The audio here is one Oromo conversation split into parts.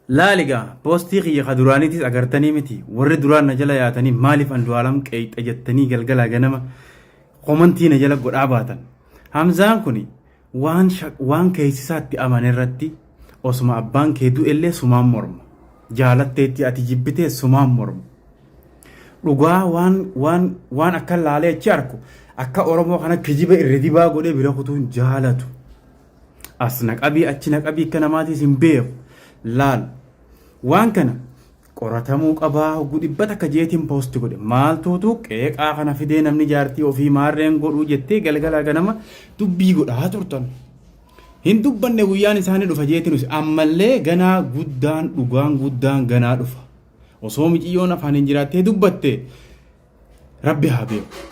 Laali egaa poostii kiyya ka duraaniitiis agartanii miti warri duraan na jala yaatanii maaliif Andu'aalam qeeqxa jettanii galgalaa ganama komantii na jala godhaa baatan. Hamzaan kun waan waan keessisaatti amane irratti osuma abbaan kee du'ellee sumaan morma. Jaalatteetti ati jibbitee sumaan morma. Dhugaa waan waan waan akka laalee achi arku akka Oromoo kana kijiba irra dibaa godhee bira kutuun jaalatu. As na qabii achi na qabii akka namaatiis hin beeku. Laal. Waan kana qoratamuu qabaa hogguu dhibba takka jeetiin poosti godhe maaltuutu qeeqaa kana fidee namni jaartii ofii maarreen godhuu jettee galgalaa ganama dubbii godhaa turtan. Hin dubbanne guyyaan isaanii dhufa jeetinus ammallee ganaa guddaan dhugaan guddaan ganaa dhufa. Osoo miciyyoon afaan hin jiraattee dubbatte Rabbi haa beeku.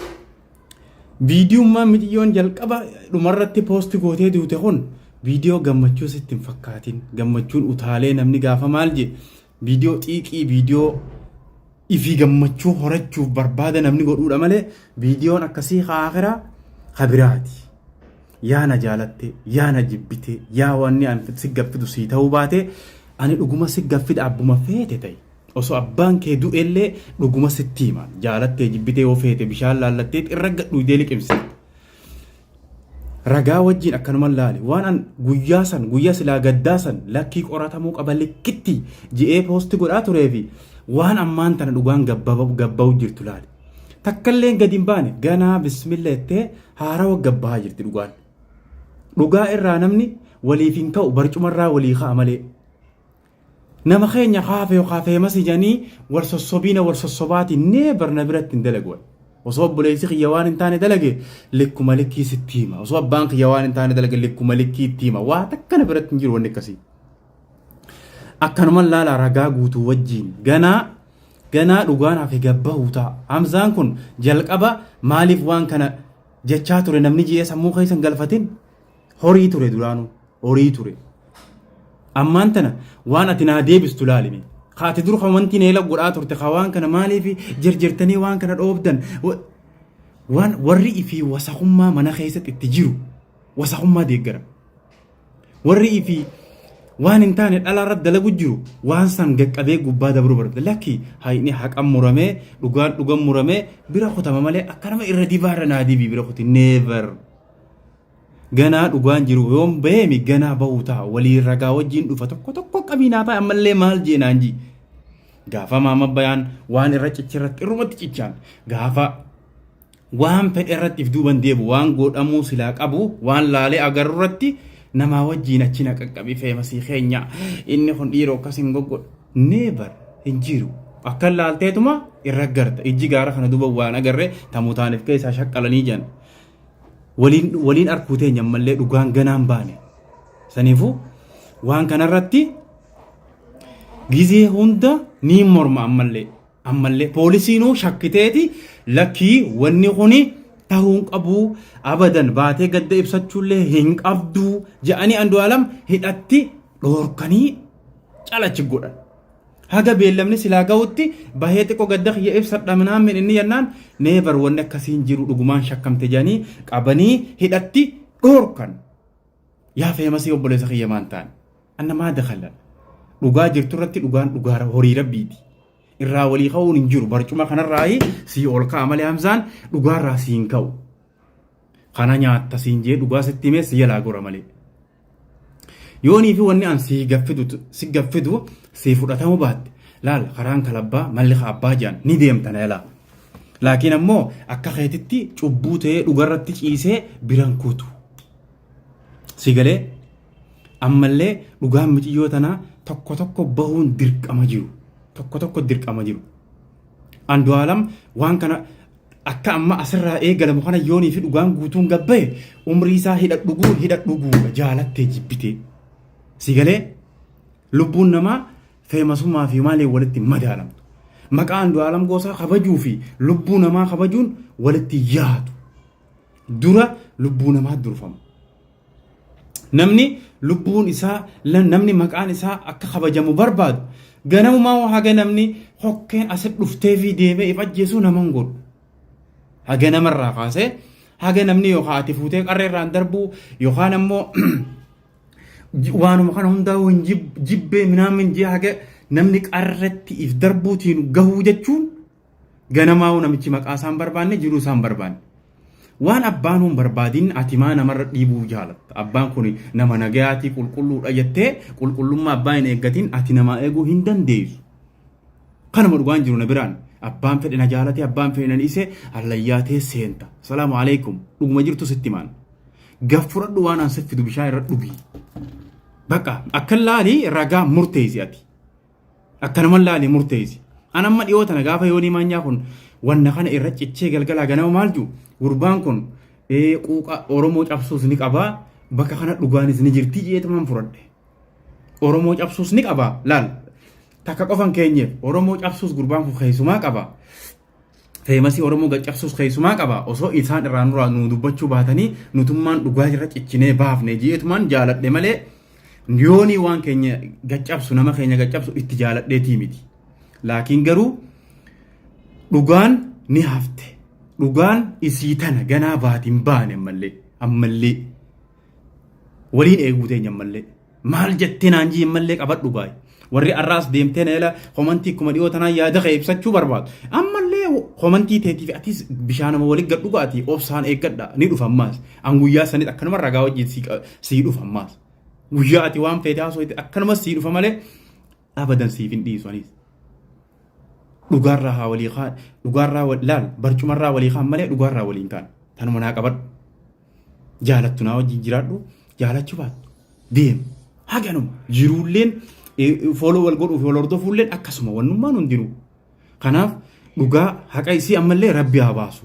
Viidiyummaan miciyyoon jalqaba dhumarratti poosti gootee duute kun viidiyoo gammachuu sitti hin fakkaatin. Gammachuun utaalee namni gaafa maal jee viidiyoo xiiqii viidiyoo ifii gammachuu horachuuf barbaada namni godhuudha malee viidiyoon akkasii haakiraa habiraati. Yaa na jaalatte, yaa na jibbite, yaa wanni an si gaffidu sii ta'uu baate ani dhuguma si gaffidha abbuma feete ta'e. Osoo abbaan kee du'ellee dhuguma sitti hima. Jaalattee jibbitee yoo feete bishaan laallatteet irra gad dhuydee liqimsita. Ragaa wajjin akkanuman laale. Waan an guyyaa san guyyaa silaa gaddaa san lakkii qoratamuu qaba likkitti je'ee poosti godhaa turee fi waan ammaan tana dhugaan gabbaba- gabba'u jirtu laale. Takkalleen gadi hin baane ganaa bismillah jettee haarawa gabbahaa jirti dhugaan. Dhugaa irraa namni waliif hin ka'u barcumarraa walii ka'a malee. Nama keenya kaa feew kaa feemasi janii wal sossobiina wal sossobaati never na biratti hin dalagu ani. Osoo obboleessi kiyya waan hin taane dalage likkuma likkii sitti hima. Osoo abbaan kiyya waan hin taane dalage likkuma likkii itti hima. Waa takka na biratti hin jiru wanni akkasii. Akkanuman laala ragaa guutuu wajjiin ganaa ganaa dhugaan hafe gabbahuu ta'a. Hamzaan kun jalqaba maaliif waan kana jechaa ture namni ji'ee sammuu keessan galfatin Horii ture duraanuu. Horii ture. Ammaan tana waan ati naa deebistu laalime. Ka ati dur kan wanti neela godhaa turte ka waan kana maaliif jirjirtanii waan kana dhoobdan. Wa- Waan warri ifii wasakummaa mana keessatti itti jiru wasakummaa deeggara. Warri ifii waan hin taane dhala irratti dalagu jiru waan san gaqqabee gubbaa dabruu barbaada. Lakki haayini haqan muramee dhugaan dhugan muramee bira kutama malee akka nama irra dibaa irra naa dibii bira kuti never. Ganaa dhugaan jiru yoom baheemi ganaa bahuu ta'a walii ragaa wajjiin dhufa tokko tokko qabiinaa ta'a ammallee maal jeenaan jii. Gaafa maama bayaan waan irra cicha irratti irrumatti cichaan gaafa waan fedhe irratti if duuban deebu waan godhamuu silaa qabu waan laalee agarru irratti namaa wajjiin achi na qaqqabi feemasii keenya inni kun dhiiroo akkas hin goggodhu neebar hin jiru. Akka laalteetuma irra garta ijji gaara kana duuba waan agarree tamuutaaniif keessaa shaqqalanii jiran. waliin arkuu teenya ammallee dhugaan ganaan baane. Saniifuu waan kanarratti gizee hunda ni morma ammallee. Ammallee poolisiinuu shakkiteeti lakkii wanni kuni tahuu hin qabu abadan baatee gadda ibsachuullee hin qabdu jedhanii andu'aalam hidhatti dhoorkanii calachi godhan. Haga beellamni silaa gahutti bahee xiqqo gadda kiyya ibsadha minaamin inni jennaan neevar wanni akkasii hin jiru dhugumaan shakkamte jedhanii qabanii hidhatti dhoorkan. Yaa feemasii obboleessa kiyya maan taane. Anna maa dakalla. Dhugaa jirtu irratti dhugaan dhugaa horii rabbiiti. Irraa walii ka'uun hin jiru barcuma kanarraayi sii ol ka'a malee hamzaan dhugaarraa sii hin ka'u. Kana nyaatta siin jee dhugaa sitti himee si jalaa gora malee. Yoonii fi wanni an si gaffidu si gaffidu si fudhatamu baatte laal karaan kalabbaa malli ka abbaa jedhan ni deemta na yalaa. Laakiin ammoo akka keetitti cubbuu ta'ee dhugarratti ciisee biran kutu. Si galee ammallee dhugaan miciyyoo tanaa tokko tokko bahuun dirqama jiru. Tokko tokko dirqama jiru. Andu'aalam waan kana akka amma asirraa eegalamu kana yoonii fi dhugaan guutuun gabbaye umrii isaa hidha dhuguu hidha dhuguudha jaalattee jibbitee. Si galee lubbuun namaa feemasummaa fi maalee walitti madaalamtu. Maqaa Andu'aalam Goosaa kabajuu fi lubbuu namaa kabajuun walitti yaadu. Dura lubbuu namaa durfama. Namni lubbuun isaa namni maqaan isaa akka kabajamu barbaadu ganamumaa haga namni hokkeen asi dhuftee fi deemee if ajjeesuu nama hin godhu. Haga namarraa kaasee haga namni yookaan ati fuutee qarreerraan darbuu yookaan ammoo waanuma kana hundaa hin jibbee minaamin jee haga namni qarretti if darbuutiin gahuu jechuun Ganamaa'uu namichi maqaa isaan barbaanne jiruu isaan barbaanne. Waan abbaan hin barbaadin ati maa namarra dhiibuu jaalatta. Abbaan kun nama nagayaatii qulqulluudha jettee qulqullummaa abbaa hin eeggatin ati namaa eeguu hin dandeessu. Kanuma dhugaan jiru na biraan. Abbaan fedhe na jaalate abbaan fedhe na dhiise hallayyaa tee seenta. Salaamu alaikum. Dhuguma jirtu sitti maan. Gaf fudhadhu waan aan siffidu bishaan irra dhugi. Bakka akka laali ragaa murteessi ati. Akkanuman laali murteessi. An amma dhiyoo tana gaafa yoonii maanyaa kun wanna kana irra cichee galgalaa ganama maal jiru gurbaan kun ee, quuqa Oromoo cabsuus ni qabaa bakka kana dhugaanis ni jirtii jeetumaan furadhe. Oromoo cabsuus ni qabaa laal takka qofan keenyeef Oromoo cabsuus gurbaan kun keessumaa qaba. feemasii Oromoo gaccabsuus keessumaa qaba. Osoo isaan irraa nuraa nuu dubbachuu baatanii nutummaan dhugaa irra cichinee baafne ji'eetumaan jaaladhe malee yoonii waan keenya gaccabsu nama keenya gaccabsu itti jaaladheetii miti. Laakiin garuu dhugaan ni hafte. Dhugaan isii tana ganaa baatiin baane ammallee ammallee waliin eeguu teenya ammallee. Maal jettee naan jii mallee qabadhu gaay. Warri arraas deemtee na ila komantii kuma dhiyoo tanaan yaada kee ibsachuu barbaadu. Ammallee komantii teetiif atis bishaanuma wali gad dhugaati obsaan eeggadha ni dhufa ammaas. An guyyaa sanit akkanuma ragaa wajjin sii qa- sii dhufa ammaas. Guyyaa ati waan feete haasooyte akkanuma sii dhufa malee abadan siif hin dhiisu anis. Dhugaarraa haa walii kaan dhugaarraa wal- laal barcumarraa walii kaan malee dhugaarraa waliin kaan tanuma naa qabadhu. jaalattu naa wajjin jiraadhu jaalachuu baattu deemu haganuma jiruulleen fooloo wal godhuuf wal hordofuulleen akkasuma wannummaan hundinuu kanaaf dhugaa haqa isii ammallee rabbi haa baasu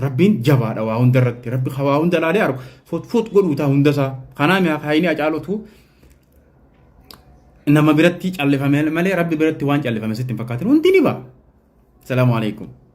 rabbiin jabaadha waa hunda irratti rabbi waa hunda laalee argu fotfoot godhuu taa hunda isaa kanaa mi'a kaayinii acaalutu nama biratti callifame malee rabbi biratti waan callifame sitti hin fakkaatin hundi ni ba'a salaamu alaikum